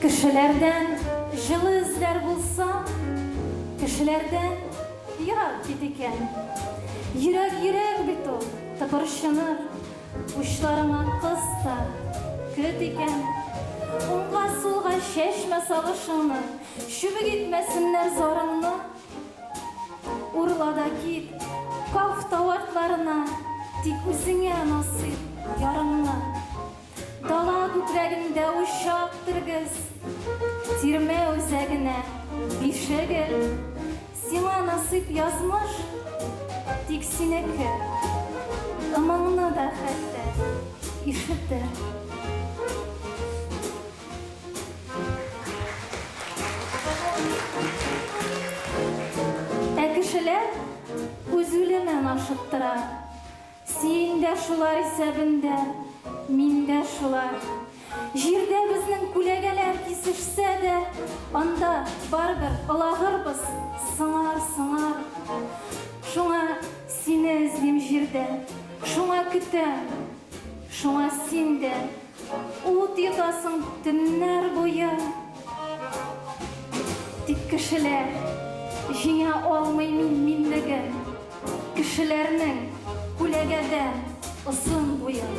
Кешеләрдән җылы эзләр булса, Кешеләрдән ерак бит икән. Йөрәк йөрәк бит ул, тыпырчыныр, Учларыңа кыс та, көт икән. Уңга-сулга чәчмә сагышыңны. Чүбек итмәсеннәр зарыңны, Урла да кит, каф тау артларына, Тик үзеңә насыйп ярыңны. Дала күкрәгендә учак тергез, Тирмә үзәгенә биш эгел, Сиңа насыйп язмыш, тик синеке, Ымыңны да хәтта ишетер. Ә кешеләр үз үлемен ашыктыра. Син дә шулар исәбендә, мин дә шулар. Җирдә безнең күләгәләр кисешсә дә, анда барыбер олагырбыз, сыңар, сыңар. Шуңа сине эзлим җирдә, шуңа көтәм, шуңа син дә. Ут йотасың төннәр буе. Тик кешеләр җиңә алмый мин минлеген. Кешеләрнең күләгәдән озын буен.